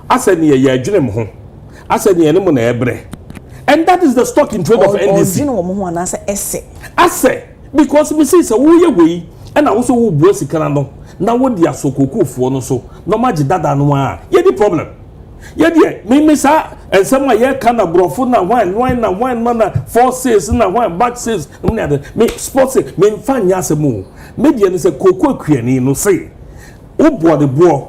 Asɛ neɛ yɛdwene mo ho? Asɛ neɛ ne mo na ɛbrɛ? And that is the stock in trade of NDC. Ɔdwene wɔn ho anaasɛ ɛsɛ? Asɛ, because me see sɛ woyɛ wei ɛna wo so wobua sika n'ano na wode asɔ kookoofoɔ no so na wɔn agye dada no ara a, yɛni problem. Yɛ deɛ, me me saa nsɛm a yɛka na borɔfo na hwan hwan na hwan ma na four sales na hwan back sales nom ne ade me sport se me nfa nyɛ asɛm o. Me deɛ ne sɛ kookoo akuani no se wobɔ ne boɔ.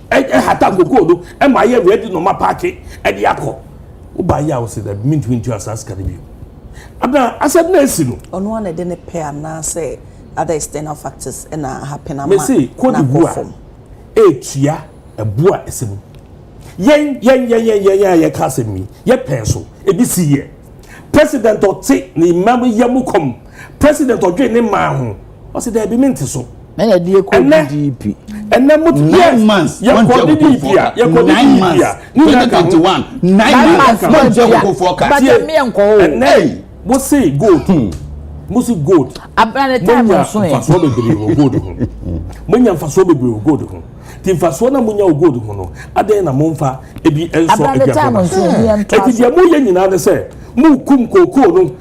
hata kokoo no ma ayɛ ready na ɔma paake ɛde akɔ woba yɛ a wɔsi dɛ mintumi ntua saa sika no bio ada asɛm na esi no. ɔno ana ɛde ne pɛ anaasɛ other external factors ɛna happen ama na akɔ fam. mesi kodi bu a etua ɛbu a ɛsɛ mu yɛn yɛn yɛn yɛn yɛn a yɛka asɛm yi yɛ pɛn so ebi si yɛ president ɔte ne mmam yɛ mu kɔm president ɔdwe ne mmaa ho. ɔsi dɛbi mi nti so. na yɛde yɛ kɔ DDP ɛnɛ mo nine months yɛ kɔ DDP a yɛ kɔ DDP a ne yɛ ka ho nine months mo n jɛ koko fɔ ka tie ɛnɛ mo se gold hmm. mo se gold mo nya nfasuo bebree wɔ gold ho mo nya nfasuo bebree wɔ gold ho ti nfasuo na mo nya wɔ gold ho no adan na mo nfa ebi nsɔ aduane ho ebi deɛ mo yɛ nyinaa ne sɛ mo kum kookoo no.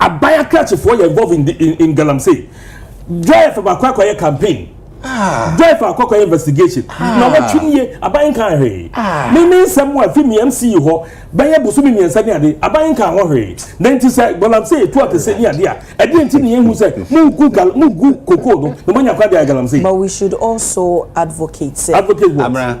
Aban akrakyefoɔ yɛ involve in, in, in galamsey. Joy fa baako akɔyɛ campaign. Ah. Joy fa akɔ akɔyɛ investigation. Ah. Na wɔtwe nie aban nka hwee. Ah. Me me nsɛm a fi mi MC hɔ bɛyɛ bosomi mmiɛnsa ne ade aban nka ho hwee. Na nti sɛ galamsey etu akɛse ne ade a ɛdeɛ nti ne yɛn hu sɛ mu gu gal mu gu koko no na mo anya kwan de ayɛ galamsey. But we should also advocate sɛ. Advocate what? Amra.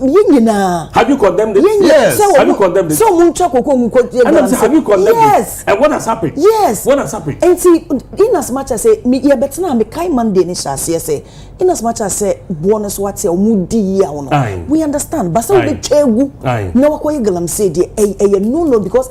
yɛn nyinaa. Have you condemned it? Yes. Sɛ Have you condemned it? Sɛ wɔn ntwa koko mu kɔ yɛ galamsey. Have you condemned it? Yes. And what has happened? Yes. What has happened? Nti in as much as sɛ yɛ bɛ tena mi kae Monday ni hyɛ aseɛ sɛ in as much as sɛ boɔ no so ate a wɔn di yi a wɔn. We understand. Basa wɔn bɛ twɛ egu. Na wakɔ yɛ galamsey deɛ ɛyɛ no no because.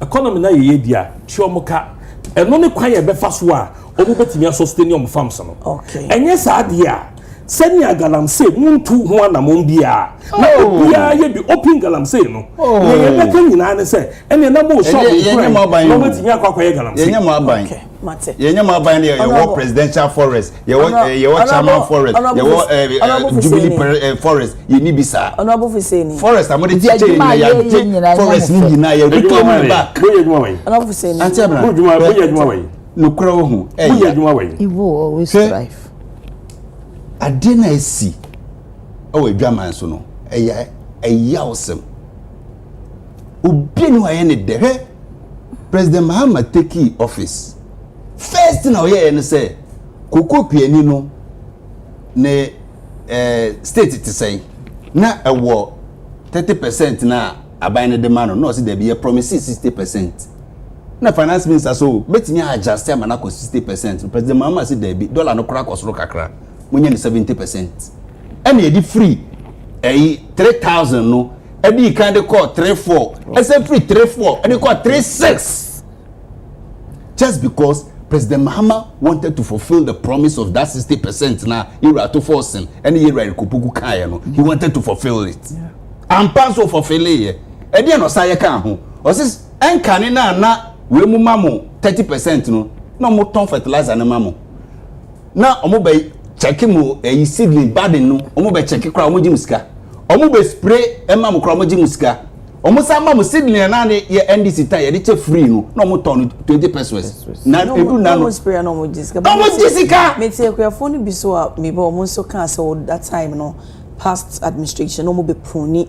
Economy no ayɛ yie deɛ a, tua wɔn ka. Ɛno ne kwan a ɛbɛfa so a wɔbɛtumi a sustain wɔn farms no. Ɛnyɛ saa deɛ a, sɛnea galamsey montu ho anammɔn biara, na oh. obiara yɛ bi open galamsey no. Oh. Nea yɛbɛka nyinaa ne sɛ, ɛnneɛ na mo shop nkuran na wɔbɛtumi akɔ akɔyɛ galamsey. Yɛnyɛ mo aban. mate. yɛn nyɛ mo aban no yɛ yɛwɔ presidential forest yɛwɔ eh, yɛwɔ chairman forest yɛwɔ eh, eh, jubilee eh, forest yɛn ni bi saa forest a mo de kyekyɛ yɛn nyinaa yɛagye forest ni nyinaa yɛ reclaim it back ante abira bɛɛ nokura wɔ ho ɛyɛ sɛ adeɛ na esi ɛwɔ adwaman so no ɛyɛ ɛyɛ awesome. obi ni hɔ ayɛ ne dɛ hwɛ president mahama teki office first thing a ɔyɛɛ no sɛ koko piani no ne ɛɛ state te sɛn na ɛwɔ thirty percent na aban no de ma no na ɔsi dɛbi yɛ promise sixty percent na finance minister so betumi adjust ama no akɔ sixty percent president mahama si dɛbi dollar no kora kɔ soro kakra mo nyɛ no seventy percent ɛna yɛde free ɛyi three thousand no. dii kan de kɔɔ three four ɛsɛ firi three four ɛde kɔɔ three six just because president mahama wanted to fulfil the promise of that sixty percent na yɛwura ato fɔɔsen ɛne yɛwura erikopoku kaeɛ no he wanted to fulfil it ampa nso fulfileyɛ ɛdeɛ na ɔsan yɛ kaa ho ɔsi ɛnkane na na wei mu ma mo thirty percent no na wɔtɔn fertilizer no ma mo. na ɔmo bɛ kyɛke mo ɛyi eh, seedling badin no ɔmo bɛ kyɛke koraa ɔmo gye mo sika ɔmo bɛ spray ɛma mo koraa ɔmo gye mo sika ɔmo san ma mo seedling ɛna ne yɛ ndc tan yɛde kyɛ free no na ɔmo tɔn no twenty pesos na edu na no ɔmo spray na ɔmo gye sika ɔmo gye sika. meti akuafo no bi so a meba ɔmo nso kaa sɛ ɔda time no past administration na ɔmo bɛ puni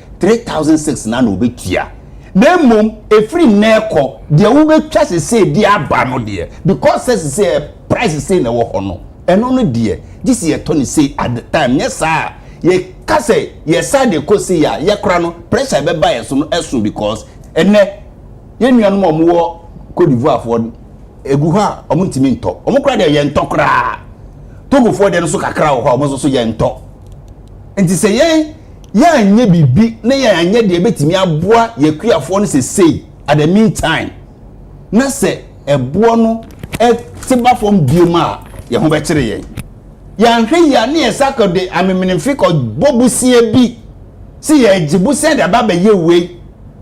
three thousand six na na obetua na mmom efiri nnɛ kɔ deɛ wobɛtwa sesei de aba no deɛ because sɛ sesei eh, price sesei na ɛwɔ hɔ no ɛno no deɛ gye sɛ yɛtɔ no sei at the time nyɛ saa a yɛka sɛ yɛsa de kɔ sei a yɛkora no pressure ɛbɛba yɛ so no ɛso because ɛnɛ yɛn nuanom a wɔwɔ Cote d'Ivoire foɔ egu hɔ a wɔn ntumi ntɔ wɔn kora deɛ yɛntɔ koraa Togofoɔ deɛ no so kakra wɔ hɔ a wɔn nso so yɛntɔ nti sɛ yɛn yɛanyɛ biribi na yɛanyɛ deɛ ɛbɛtumi aboa yɛkuafoɔ no sesei at the meantime na sɛ ɛboɔ no te ba fam biom a yɛn ho bɛkyere yɛn yɛanhwɛ yie a ne yɛsa kɔ de amemenemfe kɔbɔ bosia bi sɛ yɛagye bosia de aba abɛyɛ wei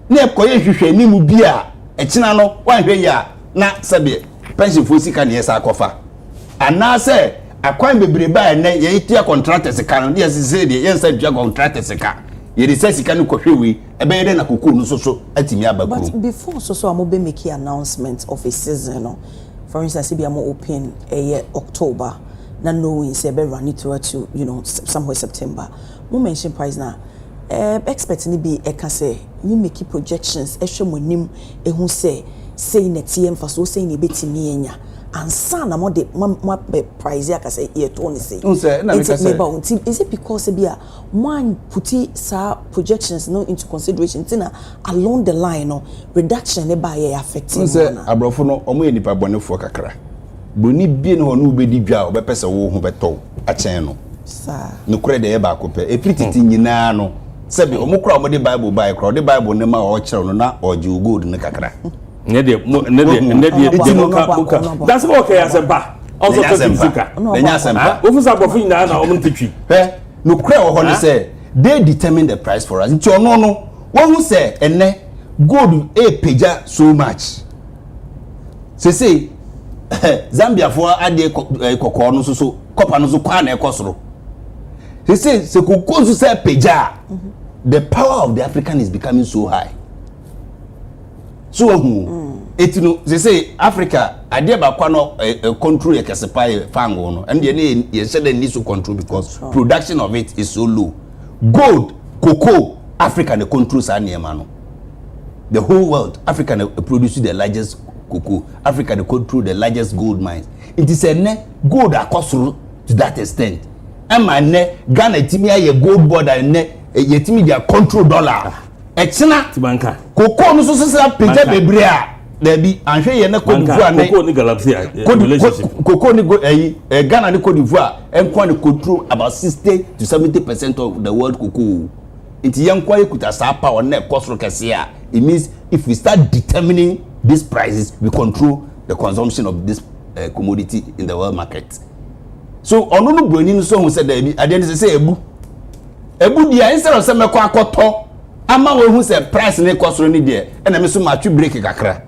na ɛkɔyɛ nhwehwɛ anim bi a ɛkyena no wanhwɛ yie a na sɛdeɛ pɛnhyenfoɔ sika na yɛsan kɔfa anaasɛ akwan bebrebe a ɛnɛ yɛtua contractors sika no deɛ sesei deɛ yɛnsa ntua contractors sika yɛde sa sika no kɔhwɛ wei ɛbɛyɛ dɛ na kokoo no soso atumi aba kurom. But before soso a mo bɛ make announcement of a season no for instance ebi a mo open ɛyɛ October na knowing sɛ ɛbɛ running through to you know somewhere September mo mention price na ɛɛ expert no bi ɛka sɛ mo make projections ɛhwɛ mo anim ahu sɛ sei na ɛteɛ, mfasoɔ sɛn na yɛbɛtumi anya ansa na mode ma moapɛ price aka sɛ yɛtɔɔ no sei. Wohu sɛ na meka sɛ. Meba o, nti is it because sɛ bi a moanputi saa projections no into consideration nti na along the line no reduction no baeɛ affect mo anaa? Wohu sɛ aborɔfo no wɔn yɛ nnipa bɔnefoɔ kakra, buroni bi nni hɔ a ɔne wo bɛdi dwa a ɔbɛpɛ sɛ wo ho bɛtɔ wo akyɛn no. Saa. Nokorɛ deɛ ɛyɛ baako pɛ, ɛfiri tete nyinaa no. Sɛbi, wɔn koraa a wɔde Bible baeɛ koraa, wɔde Bible no ma a ɔrekyerɛw no na ɔregye wo gold no kakra. Ɛnɛ deɛ, mo, ɛnɛ deɛ, Wahu? ɛnɛ deɛ, Eti deɛ no, monka, ɔnɔpa, monka. ɔnɔpa. Dansɛ bɛ wɔkɛ yɛ asɛmpa. Ɔsɔ Yɛnyɛ tɔ twi asɛmpa. sika. Ɔno Yɛnyɛ ɔba asɛmpa. Ha? Wofu sɛ aborɔfo nyinaa na wɔn nte twi. Hwɛ, nokorɛ wɔ hɔ ne Huh? sɛ, they determine the price for us. Nti ɔno no, wahu sɛ ɛnnɛ gold repagya so much. Seesei, Zambiafoɔ adeɛ kɔ, eh, kɔkɔɔ no nso so, kɔpa no nso kɔ ara na ɛkɔ soro. sese sɛ koko nso sɛ pagya a the power of the african is becoming so high so ahu mm. eti no sese africa adeɛ baako a no eh, eh, control yɛ kɛse paa yɛ fango no ɛnna yɛ ne yɛ nhyɛ dɛ ni so control because production of it is so low gold cocoa africa na control saa nneɛma no the whole world africa na produce the largest cocoa africa na control the largest gold mines nti sɛ nnɛ gold akɔ soro. to that extent ɛma nnɛ Ghana tumi ayɛ gold border nnɛ yɛtumi gya control dollar ɛkyena kokoo no so sisi apagya bebree a daabi anhwɛ yɛ ne Cote d'Ivoire ne kokoo ne galamsey relationship kokoo ne ɛyi ɛ Ghana ne Cote d'Ivoire ɛnkoa ne control about sixty to seventy percent of the world kokoo nti yɛn nkoa yɛ kuta saa power na ɛkɔ soro kɛse a it means if we start determining these prices we control the consumption of this uh, commodity in the world market. so ɔno no buroni no so hu sɛ daabi adeɛ no sɛ sɛ ɛbu ɛbu deɛ instead of sɛ mɛkɔ akɔtɔ ama wɔahu sɛ price no kɔ soro ne deɛ ɛna me so matwe break kakra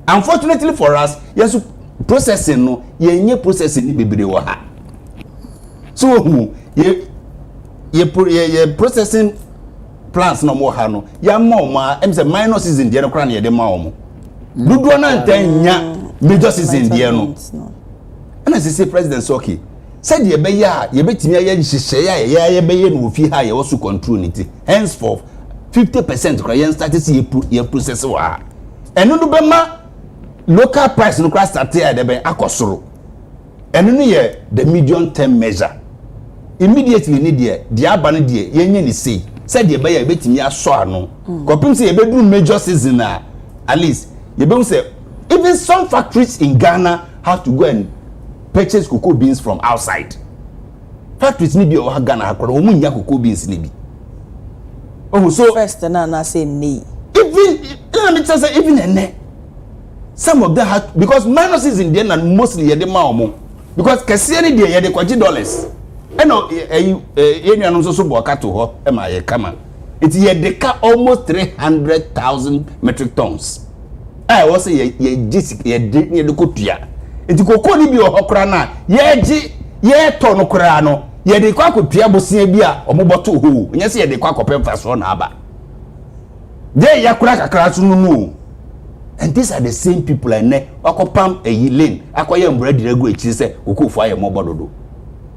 unfortunately for us yɛn so processing no yɛnyɛ processing no bebree wɔ ha so wɔhu yɛ yɛ yɛ processing plants na wɔn ha no yɛama wɔn a ɛm sɛ minor season deɛ no koraa na yɛde ma wɔn dodoɔ no antɛ nya major season deɛ no. ɛna sese president sɛ okay sɛdeɛ ɛbɛyɛ a yɛbɛtumi ayɛ nhyehyɛeɛ a yɛyɛ ayɛ bɛyɛ no wɔ fie ha a yɛwɔ so control ne ti henceforth fifty percent kora yɛn start sɛ yɛ process wɔ ha ɛno no bɛma local price no kora start a ɛdɛbɛn akɔ soro ɛno no yɛ the medium term measure immediately ne deɛ deɛ aba no deɛ yɛnyɛ ne sei sɛdeɛ ɛbɛyɛ a yɛbɛtumi asɔ ano hmm. kɔpem sɛ yɛbɛduru major season a at least yɛbɛhu sɛ Even some factories in Ghana have to go and purchase cocoa beans from outside. Factories ni bi a ɔha Ghana ha koraa wɔn nnya cocoa beans ni bi. Ohu so. First na na sɛ ɛnɛ yi. Even ɛna mi kyerɛ sɛ even ɛnɛ some of them ha because minor season deɛ na mostly yɛ de ma wɔn because kɛseɛ ni deɛ yɛ de kɔgye dollars ɛna ɛyi ɛyɛ nuanom nso so bɔ ɔka to hɔ ɛma yɛ kama. Enti yɛde ka almost three hundred thousand metric tons a ɛwɔ sɛ yɛ yɛgye sika yɛde ne yɛde kɔ tua. Enti koko no bi wɔ hɔ koraa no a yɛgye yɛtɔ no koraa no yɛde kɔ akɔtua bosea bi a wɔbɔto hɔ o. Nyɛ sɛ yɛde kɔ akɔpɛ mfasoɔ na aba. Deɛ yɛakora kakra so no no o. And these are the same people a ɛnɛ wakɔpam ayi lane akɔyɛ mbra diri agu akyiri sɛ kokofoɔ ayɛ mmɔbɔ dodo.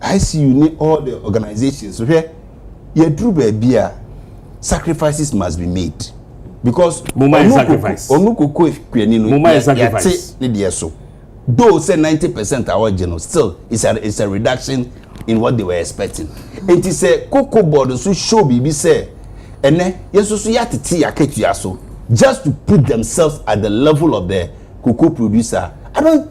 ICU ne all the organisations no hwɛ yɛduru baabi a sacrifices must be made because ɔno koko kuani no yɛte ne deɛ so though sɛ ninety percent a wɔgye no still it's a it's a reduction in what they were expecting nti sɛ koko board nso show biribi sɛ ɛnɛ yɛsoso yɛatete yɛakatua so just to put themselves at the level of the cocoa producer I don't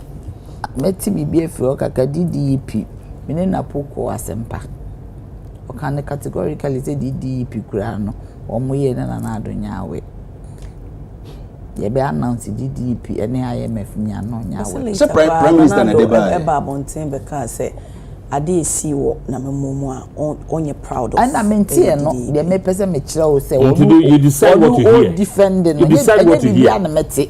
Mɛte biribi afiri hɔ kakra, DDEP, me ne Napo kɔɔ asɛmpa. Ɔka no categorically sɛ DDEP koraa no, wɔyɛ ne Nana Addo Nyawe. Yɛbɛ announce DDEP ne IMF nyɛ ano nyɛ awɛ. Ɛsɛ later koraa Nana Addo ɛbaa abɔnten bɛkaa sɛ adeɛ a ɛsii wɔ Nanamomo mu a ɔnyɛ proud of ɛyɛ DDEP. Ɛna menteɛ no, deɛ mepɛ sɛ mekyerɛ wo sɛ ɔno ɔdefend no, ɛnyɛ biribiara na mɛte.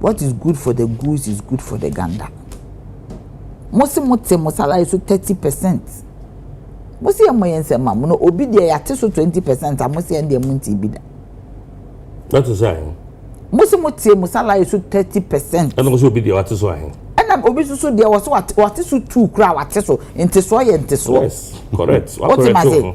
What is good for the goose is good for the gander. Mo se mo te mo salary so thirty percent. Mo se yɛn mo yɛn nsɛm ma mo no obi deɛ yɛate so twenty percent a mo se yɛn deɛ mo nti bi da. Na te sɛ ahen. Mo se mo te mo salary so thirty percent. Ɛna mo se obi deɛ wate so ahen. Ɛna obi soso deɛ wɔ so wate so two kura wate so ntesoɔ yɛ ntesoɔ. Yes correct. Wɔte ma se.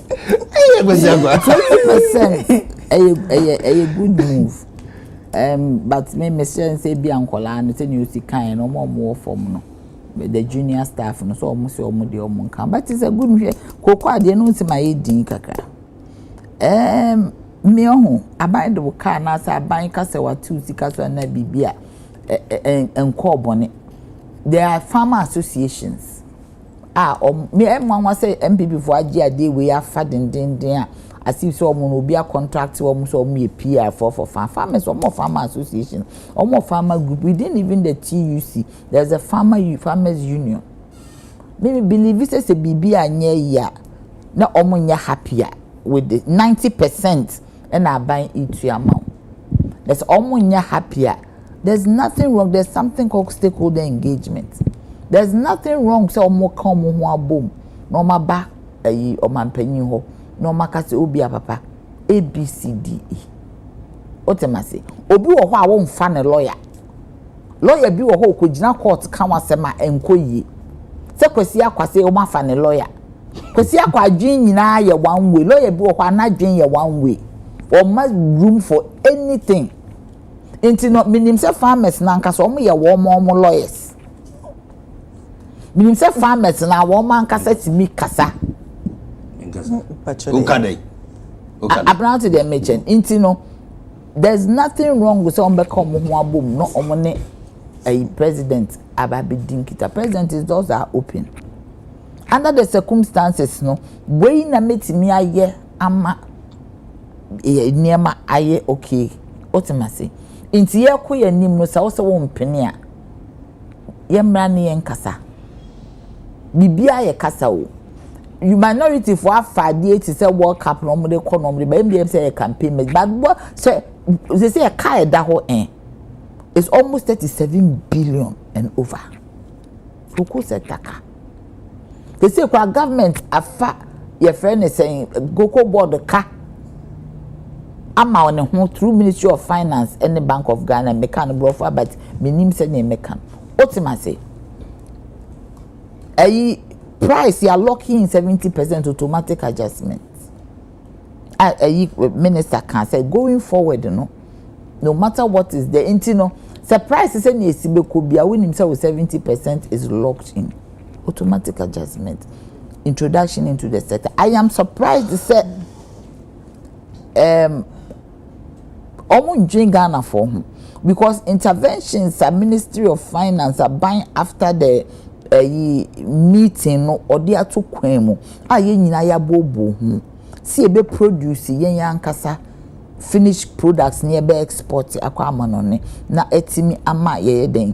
ɛyɛ kwasi akwa. twenty percent ɛyɛ ɛyɛ ɛyɛ good move um, but me me sɛ nsɛ bi a nkɔlaa no sɛ nea osi kan yɛ no ɔmo ɔmo wɔ fam no the junior staff no sɛ ɔmo sɛ ɔmo deɛ ɔmo nka but sɛ good nhwɛ koko adeɛ no nsi ma yɛ din kakra ɛɛm um, mmea ɔho aban de wo kaa na sɛ aban kasa watu sika so anaa biribi a ɛɛ nkɔɔ bɔne there are farmer associations a wɔn me ɛyɛ nwanwa sɛ NPPfoɔ agye adeɛ wei afa dendenden a as if sɛ wɔn na obi akɔntracte wɔn sɛ wɔn yɛ PR foɔ for farm farmers wɔn wɔ farmer association wɔn wɔ farmer group within even the TUC there is a farmer farmers union me believe sɛ sɛ biribi anyɛ yie a na wɔn nyɛ happy a with the ninety percent. ɛna aban retua ama wo. Na sɛ ɔmo nyɛ happy a, there's nothing wrong, there's something called stakeholder engagement. There's nothing wrong sɛ ɔmo ka ɔmo ho abom na ɔmo aba ayi ɔmanpanyin hɔ na ɔmo aka sɛ obi a papa ABCDE. Wote ma se, obi wɔ hɔ a womfa ne lawyer. Lawyer bi wɔ hɔ a okogyina court ka w'asɛm a ɛnkɔ yie. Sɛ Kwasi Akwase ɔmo afa ne lawyer. Kwesi akɔ adwene nyinaa yɛ one way lawyer bi wɔ hɔ a n'adwene yɛ one way ɔma room for anything nti no menim sɛ farmers no ankasa wɔn yɛ wɔn wɔn lawyers menim sɛ farmers no wɔn ankasa tumi kasa. nka dɛ aberante deɛ mekyɛn nti no there is nothing wrong with sɛ wɔn bɛka wɔn ho abom na wɔn ne ɛyi president aba abɛdi nkita president is doors are open. under the circumstances no wei na mɛtumi ayɛ ama nneɛma ayɛ okay wote ma se nti yɛkɔ yɛ anim no sɛ wo sɛ wo mpene a yɛmmra ne yɛn kasa biribiara yɛ kasa o minority fo afa adeɛ ti sɛ world cup na wɔn de kɔ na wɔn de ba ebi yɛn sɛ yɛ campaign mɛ but bɔ sɛ sɛ sɛ yɛ kaa ɛda hɔ ɛn it's almost thirty seven billion and over so kò sɛ taka. sese kora government afa yɛfrɛ ne sɛn cocoa board ka ama ne ho through ministry of finance ɛne bank of ghana meka no borɔfo abat menim sɛdeɛ meka wotem ase ɛyi price yɛ locking seventy percent automatic adjustment a ɛyi minister kaa sɛ going forward no no matter what is there nti no sɛ price sɛ nea esi bɛkɔ bia wonim sɛ wo seventy percent is locked in automatic adjustment introduction into the sector i am surprised sɛ um, ɔmo ndwen Ghana foɔ ho because interventions a ministry of finance aban after the ɛyi meeting no ɔde ato kwan mu a yɛn nyinaa yɛabooboo ho sɛ yɛbɛ produce yɛn ankasa finished products na yɛbɛ export akɔ amanɔne na atumi ama yɛyɛ dɛn.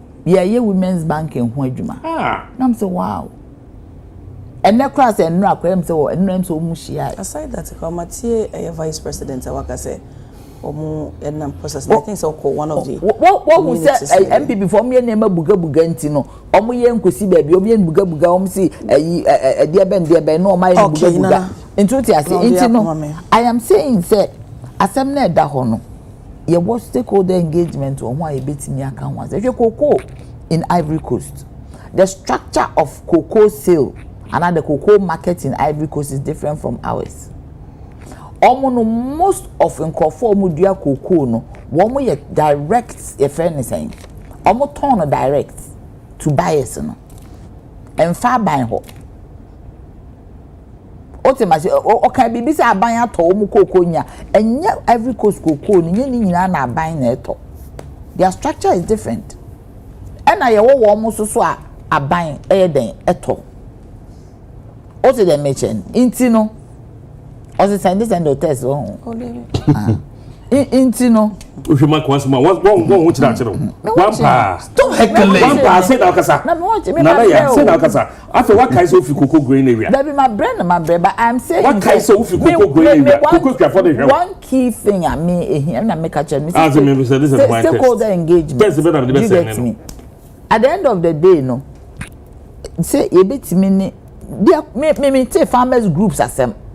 yɛyɛ women's banking ho adwuma na m sɛ wow ɛnɛ koraa sɛ nnora koraa m sɛ wɔ ɛnora m sɛ wɔn hyia ɛ. aside that koraa ma tie ɛyɛ vice president a waka sɛ wɔn ɛnam process na i think sɛ ɔkɔ one of the wɔhu sɛ npp fo wɔn yɛ nneɛma bugabuga nti no wɔn yɛ nkosi baabi wɔn yɛ bugabuga wɔn si ɛyi ɛdeɛ bɛn deɛ bɛn na wɔn ayɛ bugabuga nti o ti ase nti no i am saying sɛ asɛm na ɛda hɔ no. yɛwɔ stakeholder engagement wɔ ho a yɛbɛtumi aka ho asɛ hwɛ cocoa in ivory coast the structure of cocoa sale anaa the cocoa market in ivory coast is different from ours wɔn no most of nkurɔfoɔ wɔn dua cocoa no wɔn yɛ direct yɛfrɛ ne sɛn wɔn tɔn no direct to buyers no ɛnfa aban hɔ. Wote mase ɔka biribi sɛ aban atɔ wɔn kooko nya. Ɛnyɛ Ivory Coast kookoo no, nyɛ ne nyinaa na aban na ɛtɔ. Their structure is different. Ɛna yɛwɔ wɔn mo so so a aban ɛyɛ dɛn ɛtɔ. Wote dɛn mekyɛ no. Nti no, ɔse sɛnde sɛnde ɔtɛs wɔ ho. Nti no. Wohwɛ ma kɔn asɛm a wɔn wɔn wɔn ho kyerɛ akyerɛ wɔn. Wɔn paa. Stop heckling. Wɔn paa sɛ na ɔkasa. Nana ya sɛ na ɔkasa. Afei wakae sɛ wofi koko growing area. Dabi ma brɛ no ma brɛ but I am saying. Wakae sɛ wofi koko growing area koko kuafo de hwɛ. One key thing a me ehia na me ka kyerɛ me sɛ stakeholder engagement. Test bɛ na me de bɛ sɛ ne no. At the end of the day no sɛ yɛbɛtumi ne deɛ me me me te farmers groups asɛm.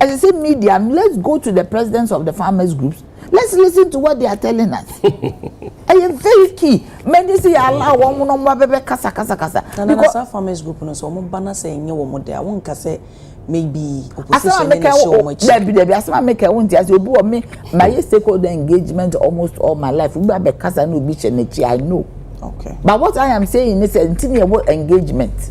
ɛsɛ sɛ media no let's go to the presidents of the farmers groups let's listen to what they are telling us ɛyɛ very key mɛni sɛ yɛ ala wɔn mo na wɔn abɛbɛ kasa kasa kasa. nana na saa farmers group no sɛ wɔn ba na sɛ ɛnyɛ wɔn de a wɔn nka sɛ maybe opposition ne na ɛhyɛ wɔn akyi. dabi dabi asɛm a meka wɔn ti ase obi wɔ me ma yɛ stakeholder engagement almost all my life obi abɛ kasa na obi hyɛ n'akyi i know. okay but what i am saying is sɛ nti na ɛwɔ engagement.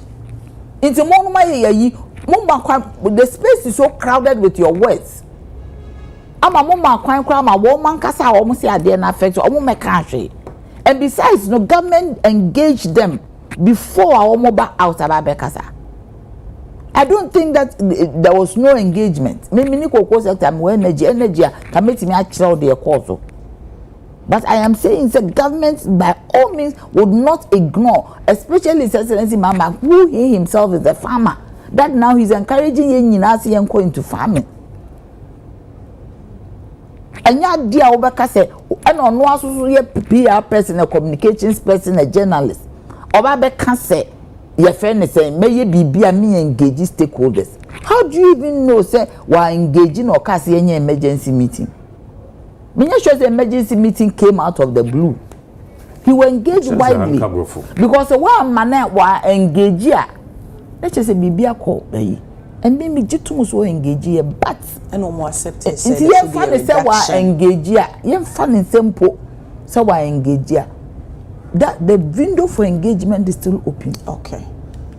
Nti mo nom ayɛ yayi, mo ma kwan, the space is so crowded with your words. Ama mo ma kwan koraa ma wɔn ankasa a wɔn se adeɛ no affect wɔn mmɛka ahwee. And besides no government engage them before a wɔn ba out aba abɛkasa. I don't think that there was no engagement. Me mini koko sector me wɔ energy energy a ka metumi akyerɛw deɛ ɛkɔɔ so. But I am saying sɛ government by all means would not ignore especially his excellency Mahama who he himself is a farmer that now he is encouraging yɛn nyinaa sɛ yɛn kɔ into farming. Ɛnyɛ adeɛ a wobɛka sɛ ɛna ɔno asoso yɛ PR person a communications person a journalist ɔba bɛka sɛ yɛfrɛ ne sɛ mɛyɛ biribi a me engage stakeholders how do you even know sɛ wa engage na ɔka sɛ yɛnyɛ emergency meeting. menyɛ sure sɛ emergency meeting came out of the blue he will engage widely because wɔama na wa engage a na kyerɛ sɛ biribi akɔ ayi ɛnde mi gye tum so engage yɛ but ɛna wɔn accept sɛ nti yɛn fa ne sɛ wa engage a yɛn fa ne nsɛm po sɛ wa engage a that the window for engagement is still open. okay.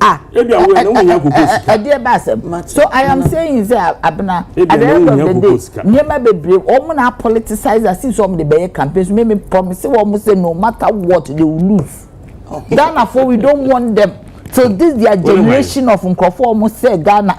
Ah, ebi awo yɛ na wɔn nyɛ koko sika. Ɛdi ɛba asɛm. So I am saying sɛ abena at the end of the day nneɛma bebree wɔn na politicize asi sɛ wɔn de bɛyɛ campaign so mimi promise wɔn sɛ no matter what they will lose. Ghana for we don't want them. So this their generation of nkurɔfoɔ wɔn sɛ Ghana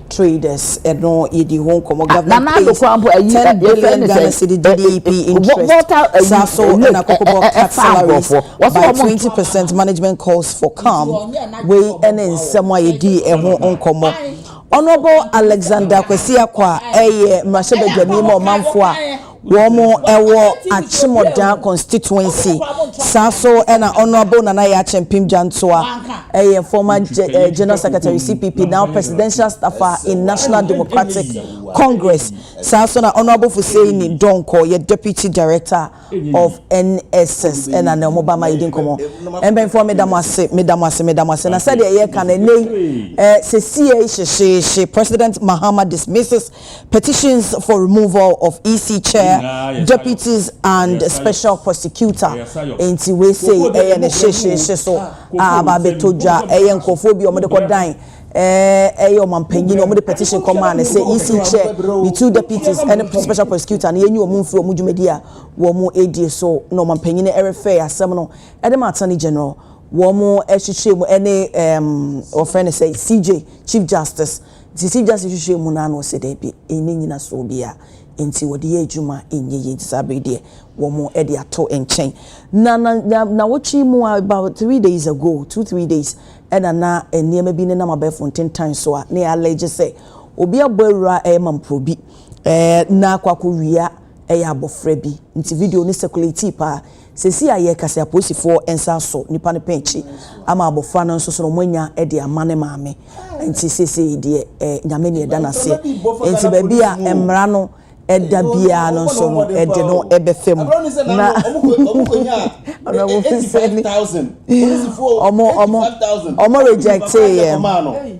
traders ɛno yɛdi ho nkɔmɔ government pays ten billion Ghana cedi DDP interest saa so ɛna kɔkɔbɔ cut salaries by twenty percent management calls for calm wei ɛne nsɛm a yɛdi ɛho nkɔmɔ honourable Alexander Kwesi Akwa ɛyɛ mmarahyɛbadwani ma ɔmanfoɔ a Wɔwɔ Akyemmɔdaa constituency, saa nso na Honourable Nana Yaa Kyempim Gyantoah yɛ former General Secretary CPP, now Presidential Staffer in National Democratic Congress, saa nso na Honourable Fuseini Donkor yɛ Deputy Director of NSS na ne wɔba ma yɛdi nkɔmmɔ. Mpanyinfoɔ meda mo ase, meda mo ase, meda mo ase. Na sɛdeɛ yɛka no ɛnnɛ yi, sɛsii hyehyeehye President Mahama dismisses Petitions for removal of EC chair, deputies and special prosecutor nti wei sei ɛyɛ ne hyehyeehye so a aba abɛtɔ dwa. Ɛyɛ nkurɔfoɔ bi a wɔde kɔdan ɛyɛ ɔmampanyin wɔde petition kɔmaa no sɛ EC chair, ne two deputies ne special prosecutor no yɛnyi wɔn mfiri wɔn dwumadi a wɔredie so na ɔmampanyin no refɛɛ asɛm no de ma Attorney General wɔn kyekyerɛ mu ne wɔfrɛ no sɛ CJ, Chief Justice. Tete Gyasi hwehwɛɛ mu no ara na ɔsɛ daabi, ɛnni nnyinasoɔ biara, enti wɔde yɛ adwuma ɛnyɛ yie, enti saa berɛ yi deɛ wɔn de ato nkyɛn. Na na na nnawɔtwe yi mu ara, about three days ago, two three days, ɛna na nneɛma bi nenam abɛɛfo ntentan so a na yɛalege sɛ obi abɔ awura ɛyɛ mamporo bi, ɛɛ na akɔ akɔwia ɛyɛ abɔfra bi, nti video no circulatii paa. Seesei a yɛrekasa yi apolisifoɔ nsa asɔ nipa no pɛn akyi ama abɔfra no nso so no wɔanya de ama ne maame nti seesei deɛ eh Nyame na yɛda no aseɛ nti baabi a mmara no da biara no nso no yɛde no bɛfa mu na Honourable Fisani wɔn wɔn rejectee yɛn.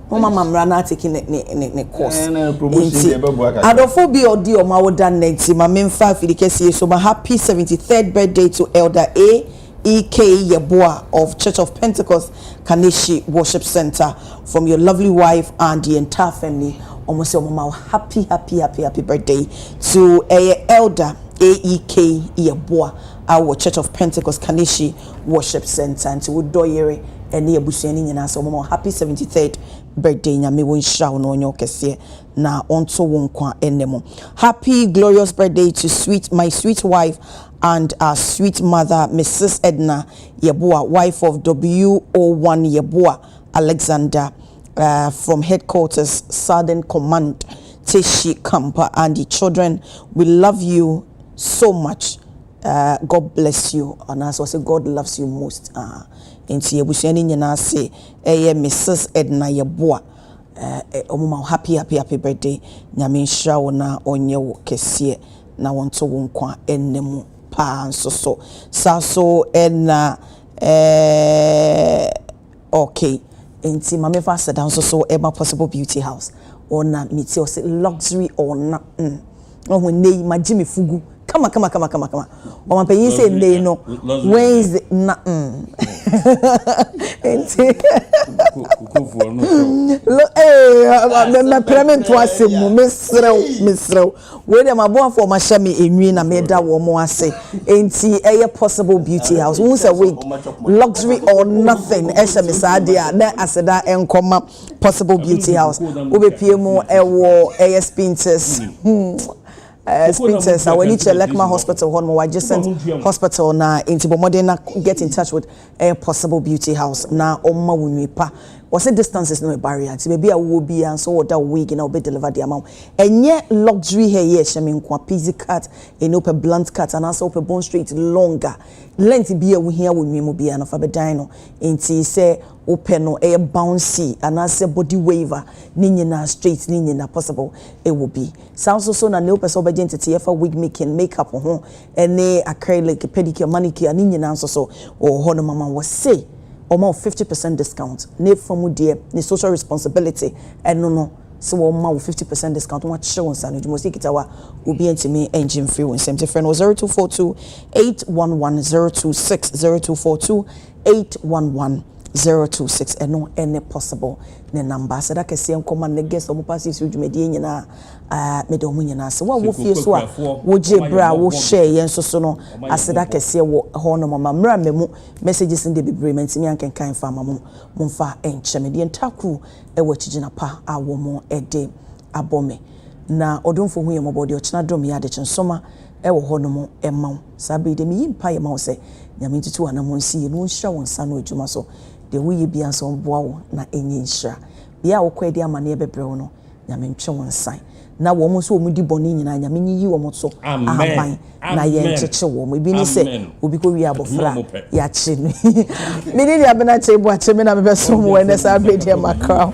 Moma ma mmra na ateki ne ne ne ne course. Ɛna eh, promotion Nti, deɛ ɛbɛboa kakra. adɔfo bi a ɔdi ɔmo awoda nnɛ nti ma memfa afidi kɛse yi so ma happy 73rd birthday to Elder A. E. K. Yeboah of Church of Pentecost Kaneshie Worship Centre from your lovely wife and the entire family. Ɔmo sɛ ɔmo ma wo happy happy happy happy birthday to ɛyɛ Elder A. E. K. Yeboah a wɔ Church of Pentecost Kaneshie worship centre nti wo dɔ yere ɛne abusua no nyinaa sɛ wɔmma wo happy seventy third birthday nyame wo nhyira wo na ɔnyɛ wo kɛseɛ na ɔnto wo nkwa nna mu happy glorious birthday to sweet my sweet wife and our sweet mother Mrs Edna Yeboah wife of WO one Yeboah Alexander uh, from headquarters southern command Teshie camp and the children we love you so much God bless you anaasɛ ɔse God loves you most ahh nti abusua no nyinaa se ɛyɛ me sis Edna Yeboah eh ɔmo ma wo happy happy happy birthday Nyame nhyira wo na ɔnyɛ wo kɛseɛ na ɔnto wo nkwa nna mu paa nso so saa so Edna eh. ok nti ma me fa aseda nso so ɛma possible beauty house ɔna metie ɔse luxury ɔna mm wahu nnɛ yi magye me fugu kama kama kama kama kama ɔma panyin sɛ nnɛ yi no Wednesday na mm nti lo ee mɛmɛprɛ me nto asɛm mu meserɛw meserɛw Wei deɛ m'aboafoɔ wɔahyɛ me enwi na meda wɔn ase enti ɛyɛ possible beauty house wohu sɛ wig luxury or nothing ɛhyɛ me saa deɛ a na aseda nkɔma possible beauty house wobɛpie mu ɛwɔ ɛyɛ spintex hmm. Uh, spintex a w'ani kyerɛ lekma hospital hɔ nom wɔ adjacent hospital na enti bɔ mmɔden na get in touch with ɛyɛ possible beauty house na ɔmma wo nwi pa wɔse distance is no a barrier nti baabi a wowɔ biaa nso wɔda wo wig na wɔbɛ deliver de ama wo ɛnyɛ luxury hair yɛ hyɛ me nkoa pixie cut ɛni wopɛ blunt cut anaasɛ wopɛ bone straight long a length biaa wohia wɔ nwi mu biaa no fa bɛ dan no nti sɛ wopɛ no ɛyɛ bouncy anaasɛ body wave a ne nyinaa straight ne nyina possible ɛwɔ bi saa nso so na nea wopɛ sɛ wobɛgye nteteɛ fa wig making make up ho ɛne acrylic, pedicure, manicure ne nyinaa nso so wɔ hɔ nom ama wɔ se wɔma wo fifty percent discount na efa mu deɛ ne social responsibility ɛno no se wɔma wo fifty percent discount na wɔakyerɛ wo nsa no adwuma ɔse kita wo a obi antumi angye mfiri wo nsam nti frɛ no wɔ zero two four two eight one one zero two six zero two four two eight one one zero two six ɛno ɛne possible ne number aseda kɛseɛ nkɔma ne guest wɔn paa siesie dwumadie nyinaa. Meda wɔn nyinaa ase. Wo a wowɔ fie nso a wogyee bere a wohwɛɛ yɛn nso so no, aseda kɛseɛ wɔ hɔnom. Ma mmra mmamu messages no deɛ bebree mantumi ankenkan amfa amma mo. Momfa nkyɛ me. Deɛ ntaa kuru wɔ akyigyina pa a wɔde abɔ me. Na Ɔdomfoɔ hu yɛn mmɔbɔ, deɛ ɔkyena dom yɛn. Adekye nsoma wɔ hɔnom ma wo. Saa bere yi deɛ meyi mpaeɛ ma wo sɛ Nyame ntutu w'anammɔn nsi yie na ɔnhyira wo nsa ano adwuma so. Deɛ woyɛ biara nso ɔmmoa wo na ɛnyɛ nhyira. Bea a wokɔ adi amanneɛ bɛbrɛ wo no, Nyame ntwe wo nsan. Na wɔn nso wɔn di bɔne nyinaa, Nyame nyiyi wɔn so ahaban na yɛnkyekye wɔn. Ebi ne sɛ, obi kɔ wie abɔfra a, yɛakye no. Me ne Nua Benante Boakye, me na mebɛsom wo ɛnnɛ, saa berɛ deɛ makra wo.